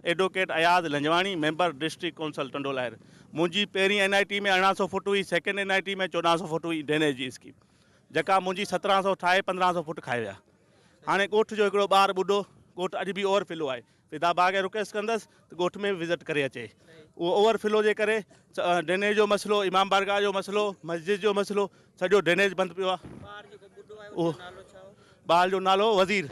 Advocate Ayaz Lanjwani, member district council Tando Allahyar, منهنجي پهرين N I T ۾ ارڙهن سؤ فوٽ هئي، سيڪنڊ اين آء ٽي ۾ چوڏهن سؤ فوٽ هئي ڊرينيج جي اسڪيم جيڪا منهنجي سترهن سؤ ٺاهي پندرهن سؤ فوٽ کائي ويا. هاڻي ڳوٺ جو هڪڙو ٻار ٻڍو ڳوٺ اڄ به اوور فلو آهي، فدا ڀاء کي رڪويسٽ ڪندس ته ڳوٺ ۾ وزٽ ڪري اچي، اهو اوور فلو جي ڪري ڊرينيج جو مسئلو، امام بارگاهه جو مسئلو، مسجد جو مسئلو، سڄو ڊرينيج بند پيو آهي. ٻار جو نالو وزير.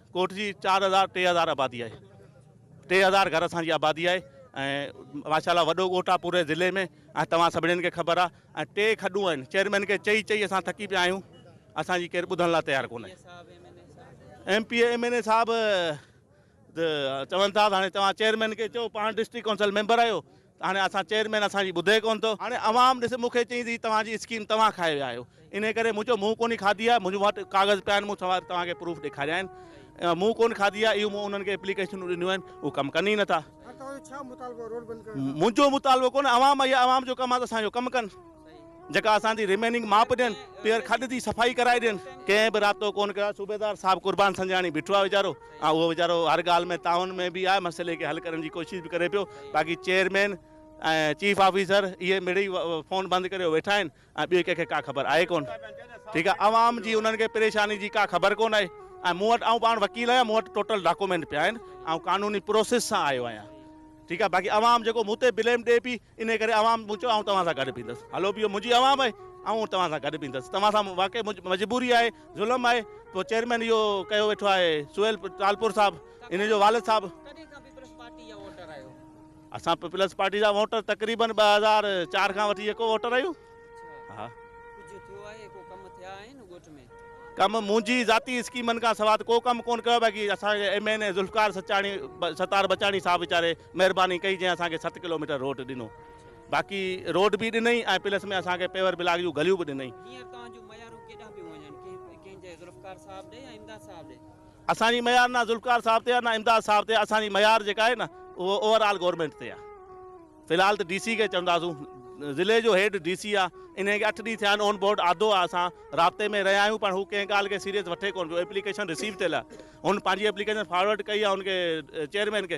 ڳوٺ جي چار هزار ٽي هزار آبادي آهي ٽي هزار گهر اسان جي آبادي آهي ۽ ماشاء الله وڏو ڳوٺ آهي پوري ضلعي ۾ ۽ توهان سڀني کي خبر آهي ۽ ٽي کڏون آهن چيئرمين کي چئي چئي اسان ٿڪي پيا آهيون اسان جي ڪير ٻڌڻ لاء تيار ڪونهي M P M N A صاحب چون ٿا هاڻي توهان چيئرمين کي چئو پاڻ ڊسٽرڪ ڪائونسل ميمبر آهيو هاڻي اسان چيئرمين اسان جي ٻڌي ڪونه ٿو. هاڻي عوام ڏس مون کي چئي ٿي توهان جي اسڪيم توهان کائي ويا آهيو انهي ڪري مون چيو مون ڪونهي کاڌي آهي منهنجو وٽ ڪاغذ پيا آهن مون سوال توهان کي پروف ڏيکاريا آهن مون ڪونه کاڌي آهي اهو مون انهن کي اپليڪيشنون ڏنيون آهن اهو ڪم ڪن ئي نه ٿا. منهنجو مطالبو ڪونه عوام اهي عوام جو ڪم آهي ته اسان جو ڪم ڪن. جيڪا اسان جي ريميننگ ماپ ڏين پيئر کڏ جي صفائي ڪرائي ڏين ڪنهن به رابطو ڪون ڪيو آهي صوبيدار صاحب قربان سنجاڻي بيٺو آهي ويچارو ۽ اهو ويچارو هر ڳالهه ۾ تعاون ۾ به آهي مسئلي کي حل ڪرڻ جي ڪوشش به ڪري پيو باقي چيئرمين ۽ چيف آفيسر اهي مڙئي فون بند ڪري ويٺا آهن ۽ ٻئي ڪنهن کي ڪا خبر آهي ڪون ٺيڪ آهي عوام جي انهن کي پريشاني جي ڪا خبر ڪون آهي ۽ مون وٽ آئون پاڻ وڪيل آهيان مون وٽ ٽوٽل ڊاڪومينٽ پيا آهن آئون قانوني پروسيس سان آيو آهيان ٺيڪ آهي باقي عوام جيڪو مون تي بليم ڏي پي انهيء ڪري عوام پهچو آئون توهان سان گڏ بيهندس. هلو بيهو منهنجي عوام آهي آئون توهان سان گڏ بيهندس. توهان سان واقعي منهنجي مجبوري آهي ظلم آهي پوء چيئرمين اهو ڪيو ويٺو آهي سهيل ٽالپر صاحب انهيء جو والد صاحب. ڪڏهن کان پيپلز پارٽي جا ووٽر آهيو؟ اسان پيپلز پارٽي جا ووٽر تقريبن ٻه هزار چار کان وٺي يڪو ووٽر آهيون. اڇا ها. ڪجهه ٿيو آهي ڪو ڪم ٿيا آهن ڳوٺ ۾؟ ڪم منهنجي ذاتي اسڪيمن کان سواء ته ڪو ڪم ڪونه ڪيو آهي باقي اسان جي M N A Zulfiqar Sachani Sattar Bachani sahib ويچاري مهرباني ڪئي جنهن اسان کي ست ڪلوميٽر روڊ ڏنو باقي روڊ به ڏنئي ۽ پلس ۾ اسان کي پيور بلاڪ جون گليون به ڏنئي. هينئر توهان جون ميارون ڪيڏانهن پيون وڃن ڪنهن ڪنهن جي ذوالفقار صاحب ڏي يا امداد صاحب ڏي؟ اسان جي ميار نه ذوالفقار صاحب تي آهي نه امداد صاحب تي آهي اسان جي ميار جيڪا آهي نه اهو اوور آل گورنمينٽ تي آهي في الحال ته ڊي سي کي چونداسون ضلعي جو هيڊ ڊي سي آهي انهي کي اٺ ڏينهن ٿيا آهن اون بورڊ آڌو آهي اسان رابطي ۾ رهيا آهيون پر هو ڪنهن ڳالهه کي سيريس وٺي ڪونه پيو ايپليڪيشن رسيو ٿيل آهي هن پنهنجي ايپليڪيشن فارورڊ ڪئي آهي ان کي چيئرمين کي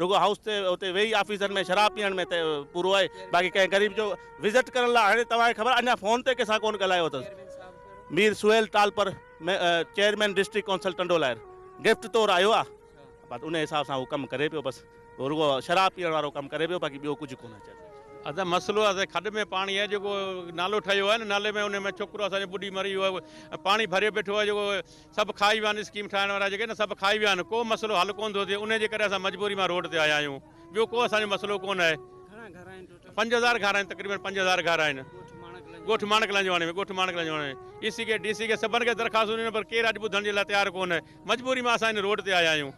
رڳو هائوس تي اتي ويهي آفيسن ۾ شراب پيئڻ ۾ ته پورو آهي باقي ڪنهن غريب جو وزٽ ڪرڻ لاء هاڻي توهان کي خبر اڃا فون تي ڪنهن سان ڪونه ڳالهايو اٿس Mir Sohail Talpur chairman district council Tando Allahyar gift طور آيو آ بس ان حساب سان هو ڪم ڪري پيو بس رڳو شراب پيئڻ وارو ڪم ڪري پيو باقي ٻيو ڪجهه ڪونه چئي اسان مسئلو اسان کڏ ۾ پاڻي آهي جيڪو نالو ٺهيو آهي نه نالي ۾ ان ۾ ڇوڪرو اسان جو ٻڏي مري ويو آهي پاڻي ڀريو بيٺو آهي جيڪو سڀ کائي ويا آهن اسڪيم ٺاهڻ وارا جيڪي نه سڀ کائي ويا آهن ڪو مسئلو حل ڪونه ٿو ٿئي انهي جي ڪري اسان مجبوري مان روڊ تي آيا آهيون ٻيو ڪو اسان جو مسئلو ڪونه آهي گهڻا گهر آهن ٽوٽل پنج هزار گهر آهن تقريبن پنج هزار گهر آهن ڳوٺ ماڻڪ لانجواڻي ۾ ڳوٺ ماڻڪ لانجواڻي ۾ اي سي کي ڊي سي کي سڀن کي درخواستون ڏنيون پر ڪير اڄ ٻڌڻ جي لاء تيار ڪونه مجبوري مان اسان هن روڊ تي آيا آهيون.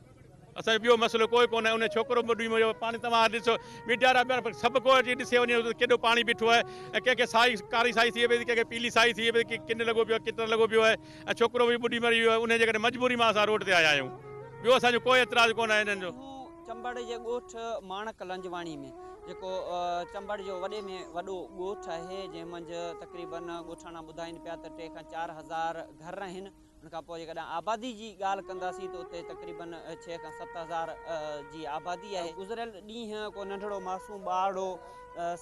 اسان جو ٻيو مسئلو ڪوئي ڪونه انهي ڇوڪرو ٻڏوي ميو پاڻي توهان ڏسو ميڊيا را ٻيا سڀ ڪو جي ڏسي وڃي ته ڪيڏو پاڻي بيٺو آهي ۽ ڪنهن کي سائي ڪاري سائي ٿئي پئي ٿي ڪنهن کي پيلي سائي ٿئي پئي ٿي ڪن لڳو پيو آهي ڪٽر لڳو پيو آهي ۽ ڇوڪرو به ٻڏي مري ويو آهي انهي جي ڪري مجبوري مان اسان روڊ تي آيا آهيون ٻيو اسان جو ڪوئي اعتراض ڪونه آهي انهن جو. چمبڙ جي ڳوٺ ماڻڪ لنجواڻي ۾ جيڪو چمبڙ جو وڏي ۾ وڏو ڳوٺ آهي جنهن منجهه تقريبن ڳوٺاڻا ٻڌائين پيا ته ٽي کان چار هزار گهر آهن ان کان پوء جيڪڏهن آبادي جي ڳالهه ڪنداسين ته اتي تقريبن ڇهه کان ست هزار جي آبادي آهي. گذريل ڏينهن ڪو ننڍڙو معصوم ٻارڙو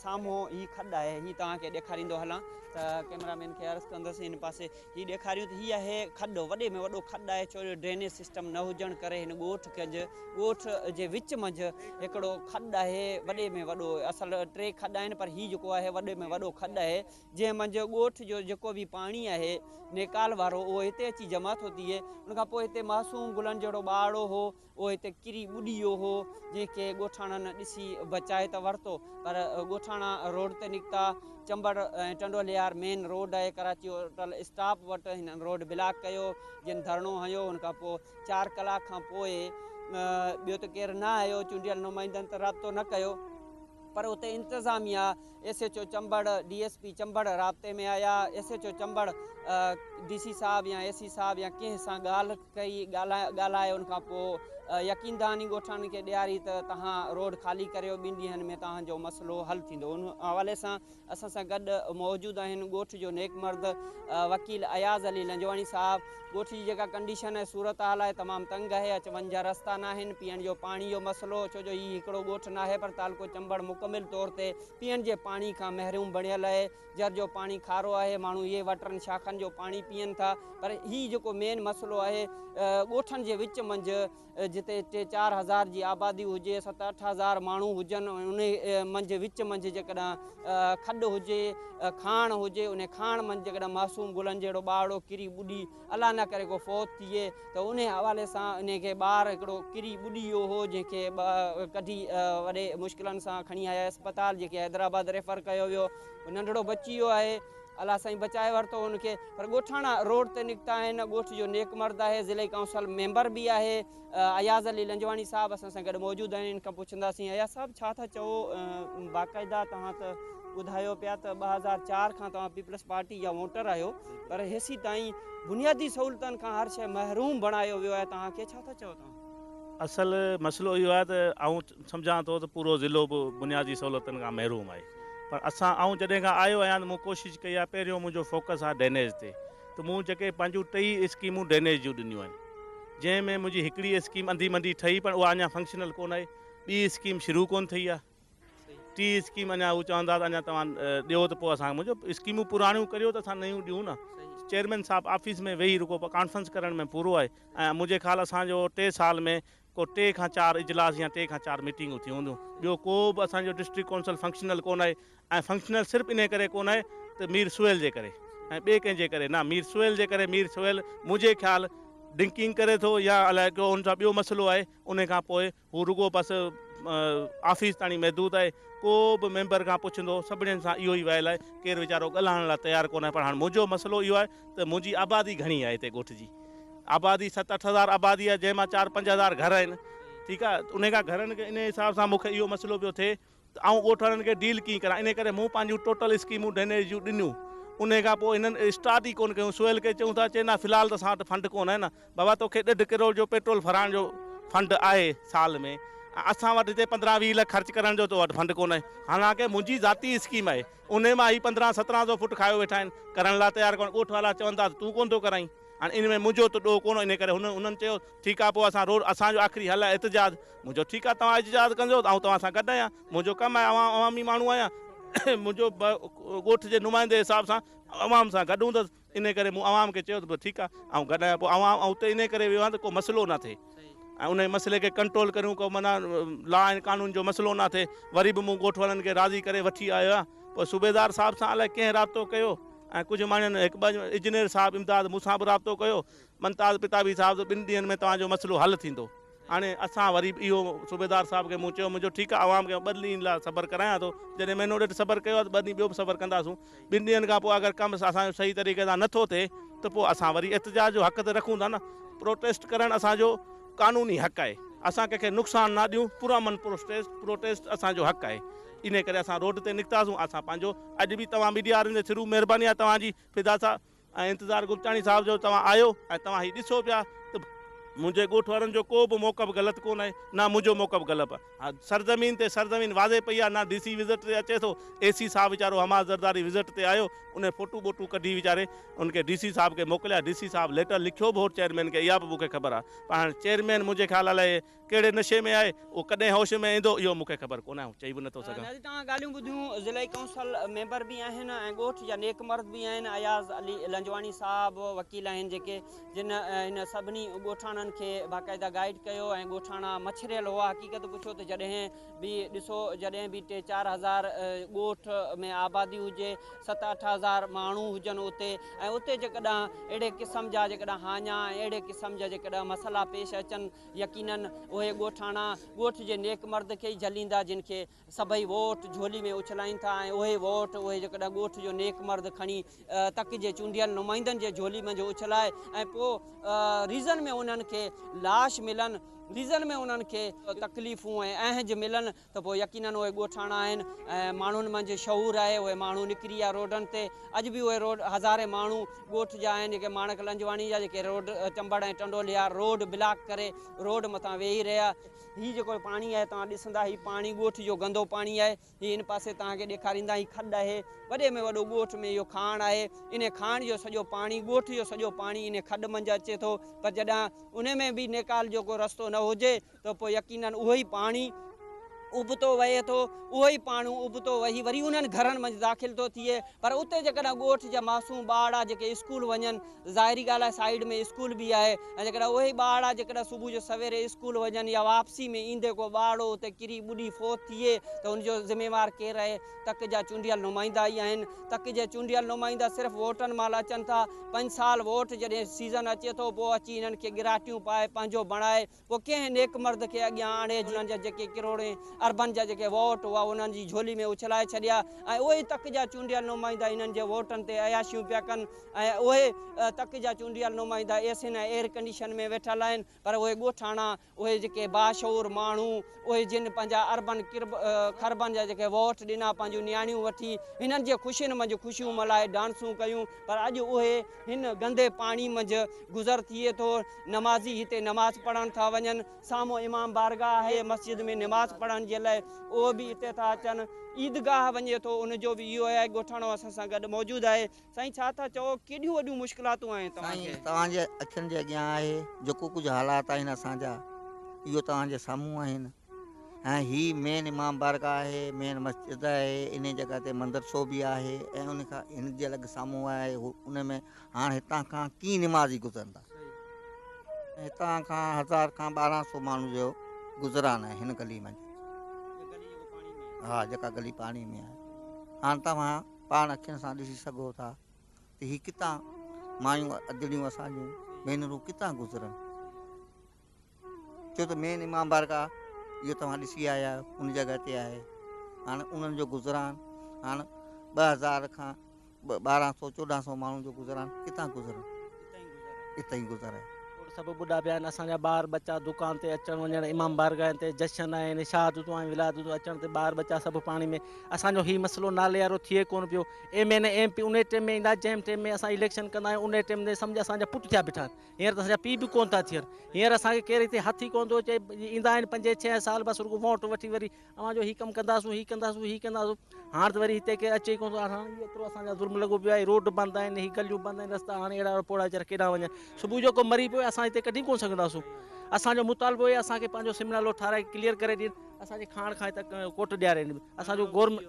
سامهون هي کڏ آهي هي توهان کي ڏيکاريندو هلان ته ڪئميرا مين کي عرض ڪندس هن پاسي هي ڏيکاريون ته هي آهي کڏ وڏي ۾ وڏو کڏ آهي ڇو جو ڊرينيج سسٽم نه هجڻ ڪري هن ڳوٺ ڪنج ڳوٺ جي وچ منجهه هڪڙو کڏ آهي وڏي ۾ وڏو اصل ٽي کڏ آهن پر هي جيڪو آهي وڏي ۾ وڏو کڏ آهي جنهن منجهه ڳوٺ جو جيڪو به پاڻي آهي نيڪال وارو اهو هتي اچي جمع ٿو ٿئي ان کان پوء هتي معصوم گلن جهڙو ٻارڙو هو اهو هتي ڪري ٻڏي ويو هو جنهن کي ڳوٺاڻن ڏسي بچائي ته ورتو پر ڳوٺاڻا روڊ تي نڪتا چمبڙ ۽ ٽنڊوليار مين روڊ آهي ڪراچي هوٽل اسٽاپ وٽ هنن روڊ بلاڪ ڪيو جن ڌرڻو هنيو ان کان پوء چار ڪلاڪ کان پوء ٻيو ته ڪير نه آيو چونڊيل نمائندن ته رابطو نه ڪيو پر اتي انتظاميا S H O Chambar, D S P Chambar رابطي ۾ آيا، S H O Chambar D C صاحب يا اي سي صاحب يا ڪنهن سان ڳالهه ڪئي، ڳالهائي ان کان پوء يقين دهاني ڳوٺاڻن کي ڏياري ته توهان روڊ خالي ڪريو ٻن ڏينهن ۾ توهان جو مسئلو حل ٿيندو. ان حوالي سان اسان سان گڏ موجود آهن ڳوٺ جو نيڪ مرد وڪيل اياز علي لنجواڻي صاحب، ڳوٺ جي جيڪا ڪنڊيشن ۽ صورتحال آهي تمام تنگ آهي اچ وڃ جا رستا ناهن پيئڻ جو پاڻي جو مسئلو ڇو جو هي هڪڙو ڳوٺ ناهي پر تعلقو چمبڙ مڪمل طور تي پيئڻ جي پاڻي کان محروم بڻيل آهي جر جو پاڻي کارو آهي ماڻهو اهي واٽرن شاخن جو پاڻي پيئن ٿا پر هي جيڪو مين مسئلو آهي ڳوٺن جي وچ منجهه جتي ٽي چار هزار جي آبادي هجي ست اٺ هزار ماڻهو هجن ان منجهه وچ منجهه جيڪڏهن کڏ هجي کاڻ هجي ان کاڻ منجهه جيڪڏهن معصوم گلن جهڙو ٻارڙو ڪري ٻڏي الا نه ڪري کو فوت ٿئي ته ان حوالي سان ان کي ٻار هڪڙو ڪري ٻڏي ويو هو جنهن کي ڪڍي وڏي مشڪلن سان کڻي آيا اسپتال جيڪي حيدرآباد ريفر ڪيو ويو ننڍڙو بچي ويو آهي الله سائين بچائي ورتو ان کي پر ڳوٺاڻا روڊ تي نڪتا آهن ڳوٺ جو نيڪ مرد آهي ضلعي ڪائونسل ميمبر به آهي اياز علي لنجواڻي صاحب اسان سان گڏ موجود آهن ان کان پڇنداسين اياز صاحب ڇا ٿا چئو باقاعده توهان ته ٻڌايو پيا ته ٻه هزار چار کان توهان پيپلز پارٽي جا ووٽر آهيو پر هيسي تائين بنيادي سهولتن کان هر شيء محروم بڻايو ويو آهي توهان کي ڇا ٿا چئو توهان اصل مسئلو اهو آهي ته آئون سمجهان ٿو ته پورو ضلعو به بنيادي سهولتن کان محروم آهي پر اسان آئون جڏهن کان آيو آهيان ته مون ڪوشش ڪئي آهي پهريون منهنجو فوڪس آهي ڊرينيج تي ته مون جيڪي پنهنجون ٽئي اسڪيمون ڊرينيج جون ڏنيون آهن جنهن ۾ منهنجي هڪڙي اسڪيم انڌي منڊي ٺهي پر اها اڃا فنڪشنل ڪونه آهي ٻي اسڪيم شروع ڪونه ٿي آهي ٽي اسڪيم اڃا هو چون ٿا ته اڃا توهان ڏيو ته پوء اسان منهنجو اسڪيمون پراڻيون ڪريو ته اسان نيون ڏيون نه چيئرمين صاحب آفيس ۾ ويهي رڳو ڪانفرنس ڪرڻ ۾ پورو آهي ۽ منهنجي خيال اسان جو ٽي سال ۾ ڪو ٽي کان چار اجلاس يا ٽي کان چار ميٽنگون ٿيون هونديون ٻيو ڪو به اسان جو ڊسٽرڪٽ ڪونسل فنڪشنل ڪونه آهي ۽ فنڪشنل صرف انهي ڪري ڪونه آهي ته مير سهيل جي ڪري ۽ ٻئي ڪنهن جي ڪري نه مير سهيل جي ڪري مير سهيل منهنجي خيال ڊنڪنگ ڪري ٿو يا الائي ڪو ان سان ٻيو مسئلو آهي انهي کان پوء هو رڳو بس آفيس تاڻي محدود آهي. ڪو به ميمبر کان پڇندو سڀني سان اهو ئي ويل آهي. ڪير ويچارو ڳالهائڻ لاء تيار ڪونه آهي. پر هاڻ منهنجو مسئلو اهو آهي ته منهنجي آبادي گهڻي آهي هتي ڳوٺ جي. آبادي ست اٺ هزار آبادي آهي جنهن مان چار پنج هزار گهر آهن. ٺيڪ آهي. انهي کان گهرن کي انهي حساب سان مون کي اهو مسئلو پيو ٿئي. ته آئون ڳوٺاڻن کي ڊيل ڪيئن ڪران انهي ڪري مون پنهنجون ٽوٽل اسڪيمون ڊرينيج جون ڏنيون انهي کان پوء هنن اسٽارٽ ئي ڪونه ڪيون سهيل کي چيون ٿا چي نه في الحال ته اسان وٽ فنڊ ڪونه آهي نه بابا توکي ڏيڍ ڪروڙ جو پيٽرول ڦراڻ جو فنڊ آهي سال ۾ ۽ اسان وٽ هتي پندرهن ويهه لک خرچ ڪرڻ جو تو وٽ فنڊ ڪونه آهي حالانڪه منهنجي ذاتي اسڪيم آهي انهي مان هي پندرهن سترهن سو فوٽ کايو ويٺا آهن ڪرڻ لاء تيار ڪونه ڳوٺ وارا چون ٿا ته تون ڪونه ٿو ڪرائين هاڻي انهي ۾ منهنجو ته ڏوهه ڪونه انهي ڪري هنن چيو ٺيڪ آهي پوء اسان روڊ اسان جو آخري حل آهي احتجاج مون چيو، ٺيڪ آهي، توهان اجتهاد ڪنجو، آئون توهان سان گڏ آهيان. منهنجو ڪم آهي، آئون عوامي ماڻهو آهيان، منهنجو ڳوٺ جي نمائندي جي حساب سان عوام سان گڏ هوندس، انهيء ڪري مون عوام کي چيو ته ٺيڪ آهي، آئون گڏ آهيان. پوء عوام اتي انهيء ڪري ويو آهيان ته ڪو مسئلو نه ٿئي ۽ انهيء مسئلي کي ڪنٽرول ڪريون، ڪو معنيٰ لا ۽ قانون جو مسئلو نه ٿئي. وري به مون ڳوٺ وارن کي راضي ڪري وٺي آيو آهيان. پوء صوبيدار صاحب سان الائي ڪنهن رابطو ڪيو ۽ ڪجهه ماڻهن، هڪ ٻه انجنيئر صاحب امداد مون سان به رابطو ڪيو. ممتاز پتابي صاحب ته ٻن ڏينهن ۾ توهان جو مسئلو حل ٿيندو. هاڻي اسان وري به اهو صوبيدار صاحب کي مون چيو منهنجو ٺيڪ آهي عوام کي ٻه ڏينهن لاء صبر ڪرايان ٿو جڏهن مهينو ڏيڍ صبر ڪيو آهي ته ٻه ڏينهن ٻيو به صبر ڪنداسون ٻن ڏينهن کان پوء اگر ڪم اسان جو صحيح طريقي سان نٿو ٿئي ته پوء اسان وري احتجاج جو حق ته رکون ٿا نه پروٽيسٽ ڪرڻ اسان جو قانوني حق آهي اسان ڪنهن کي نقصان نه ڏيون پرامن پروٽيسٽ پروٽيسٽ اسان جو حق آهي انهي ڪري اسان روڊ تي نڪتاسون اسان پنهنجو اڄ به توهان ميڊيا وارن جي ٿرو مهرباني آهي توهان جي فدا صاحب ۽ انتظار گلچاڻي صاحب جو توهان آهيو ۽ توهان هي ڏسو پيا ته منهنجي ڳوٺ وارن جو ڪو به موقف غلط ڪونه آهي نه منهنجو موقف غلط آهي سرزمين تي سرزمين واضح پئي آهي نه ڊي سي وزٽ تي اچي ٿو اي سي صاحب ويچارو حماد زرداري وزٽ تي آيو انهي فوٽو ٻوٽو ڪڍي ويچاري ان کي ڊي سي صاحب کي موڪليا ڊي سي صاحب ليٽر لکيو به هو چيئرمين کي اها به مون کي خبر آهي پر هاڻي چيئرمين منهنجي خيال لاء ڪهڙي نشي ۾ آهي، اهو ڪڏهن هوش ۾ ايندو اهو مون کي خبر ڪونه آئون چئي به نٿو سگهان. نازي توهان ڳالهيون ٻڌيون ضلعي ڪونسل ميمبر به آهن ۽ ڳوٺ جا نيڪ مرد به آهن اياز علي لنجواڻي صاحب وڪيل آهن جيڪي جن هن سڀني ڳوٺاڻن کي باقاعده گائيڊ ڪيو ۽ ڳوٺاڻا مڇريل هئا حقيقت پڇو ته جڏهن به ڏسو جڏهن به ٽي چار هزار ڳوٺ ۾ آبادي هجي ست اٺ هزار ماڻهو هجن اتي ۽ اتي جيڪڏهن اهڙي قسم جا جيڪڏهن هاڃا ۽ اهڙي قسم جا جيڪڏهن مسئلا پيش اچن يقينن اهي ڳوٺاڻا ڳوٺ جي نيڪ مرد کي ئي جهليندا جن کي سڀئي ووٽ جهولي ۾ اڇلائين ٿا ۽ اهي ووٽ اهي جيڪڏهن ڳوٺ جو نيڪ مرد کڻي تڪ جي چونڊيل نمائندن جي جهولي منجهه اڇلائي ۽ پوء ريزن ۾ انهن کي لاش ملن ريزن ۾ انهن کي تڪليفون ۽ اهنج ملن ته پوء يقينن اهي ڳوٺاڻا آهن ۽ ماڻهن منجهه شعور آهي اهي ماڻهو نڪري ويا روڊن تي اڄ به اهي روڊ هزارين ماڻهو ڳوٺ جا آهن جيڪي ماڻڪ لنجواڻي جا جيڪي road Chambar ۽ Tando Allahyar road block ڪري روڊ مٿان ويهي رهيا هي جيڪو پاڻي آهي توهان ڏسندا هي پاڻي ڳوٺ جو گندو پاڻي آهي هي ان پاسي توهان کي ڏيکاريندا هي کڏ آهي وڏي ۾ وڏو ڳوٺ ۾ اهو کاڻ آهي ان کاڻ جو سڄو پاڻي ڳوٺ جو سڄو پاڻي ان کڏ منجهه اچي ٿو پر جڏهن ان ۾ به نيڪال جو ڪو رستو نه هجي ته پوء يقينن اهو ئي پاڻي ابتو وهي ٿو، اهو ئي پاڻو ابتو وهي وري انهن گهرن منجهه داخل ٿو ٿئي. پر اتي جيڪڏهن ڳوٺ جا معصوم ٻارڙا جيڪي اسڪول وڃن، ظاهري ڳالهه آهي سائيڊ ۾ اسڪول به آهي ۽ جيڪڏهن اهي ئي ٻارڙا جيڪڏهن صبح جو سويري اسڪول وڃن يا واپسي ۾ ايندي ڪو ٻارڙو اتي ڪري ٻڏي فوت ٿئي ته ان جو ذميوار ڪير رهي؟ تڪ جا چونڊيل نمائندا ئي آهن. تڪ جي چونڊيل نمائندا صرف ووٽن مهل اچن ٿا. پنج سال ووٽ جڏهن سيزن اچي ٿو پوء اچي انهن کي ڳراٽيون پائي پنهنجو بڻائي، پوء ڪنهن نيڪ مرد کي اڳيان آڻي جنهن جا جيڪي ڪروڙين اربن جا جيڪي ووٽ هئا اهي انهن جي جهولي ۾ اڇلائي ڇڏيا ۽ اهي ئي تڪ جا چونڊيل نمائندا انهن جي ووٽن تي عياشيون پيا ڪن ۽ اهي تڪ جا چونڊيل نمائندا اي سين ۽ ايئر ڪنڊيشن ۾ ويٺل آهن پر اهي ڳوٺاڻا اهي جيڪي باشعور ماڻهو اهي جن پنهنجا اربن کربن جا جيڪي ووٽ ڏنا پنهنجون نياڻيون وٺي هنن جي خوشين منجهه خوشيون ملائي ڊانسون ڪيون پر اڄ اهي هن گندي پاڻي منجهه گذر ٿئي ٿو. نمازي هتي نماز پڙهڻ ٿا وڃن. سامهون امام بارگاهه آهي. مسجد ۾ نماز پڙهڻ جي لاء اهي به هتي ٿا اچن. عيدگاهه وڃي ٿو ان جو به اهو آهي. ڳوٺاڻو اسان سان گڏ موجود آهي. سائين ڇا ٿا چئو ڪيڏيون وڏيون مشڪلاتون آهن توهان کي؟ سائين توهان جي اکين جي اڳيان آهي جيڪو ڪجهه حالات آهن اسان جا اهو توهان جي سامهون آهن. ۽ هي مين امام بارگاهه آهي، مين مسجد آهي، انهي جڳهه تي مندرسو به آهي ۽ ان کان هن جي الڳ سامهون آهي ان ۾ هاڻ هتان کان ڪيئي نمازي گذرندا؟ ۽ هتان کان هزار کان ٻارهن سو ماڻهن جو گذران آهي هن گلي منجهه. ها جيڪا گلي پاڻي ۾ آهي هاڻ توهان پاڻ اکين سان ڏسي سگهو ٿا ته هي ڪتان مايون ادڙيون اسان جون ڀينرون ڪتان گذرن ڇو ته مين امام بارگاهه اهو توهان ڏسي آيا آهيو ان جڳهه تي آهي هاڻ انهن جو گذران هاڻ ٻه هزار کان ٻارهن سو چوڏهن سو ماڻهن جو گذران ڪتان گذرن اتان ئي گذر آهي سڀ ٻڍا پيا آهن اسان جا ٻار ٻچا دڪان تي اچڻ وڃڻ امام بارگاهن تي جشن آهن شهادتون آهن ولادتون اچڻ تي ٻار ٻچا سڀ پاڻي ۾ اسانجو هي مسئلو نالي وارو ٿئي ڪونه پيو ايم اين ايم پي ان ٽيم ۾ ايندا جنهن ٽيم ۾ اسان اليڪشن ڪندا آهيون ان ٽيم تي سمجهه اسانجا پٽ ٿيا بيٺا آهن هينئر ته اسان جا پيء به ڪونه ٿا ٿين. هينئر اسان کي ڪير هتي هٿ ئي ڪونه ٿو چئي. ايندا آهن پنجين ڇهين سال بس رڳو وونٽ وٺي وري اوهان جو هي ڪم ڪنداسون، هي ڪنداسون، هي ڪنداسون. هاڻ ته وري هتي ڪير اچي ئي ڪونه ٿو. هاڻ هي ايترو اسان جا ظلم لڳو پيو آهي. روڊ بند آهن، هي گليون بند آهن، رستا هاڻ اهڙا پوڙها ويچارا ڪيڏانهن وڃن. صبح جو ڪو مري پوي اسان هتي ڪڍي ڪونه سگهنداسون. اسان جو مطالبو هي اسان کي پنهنجو سم نالو ٺاهرائي ڪليئر ڪري ڏين. اسان جي کاڻ کائي ته ڪوٽ ڏيارين. اسان جو گورنمينٽ.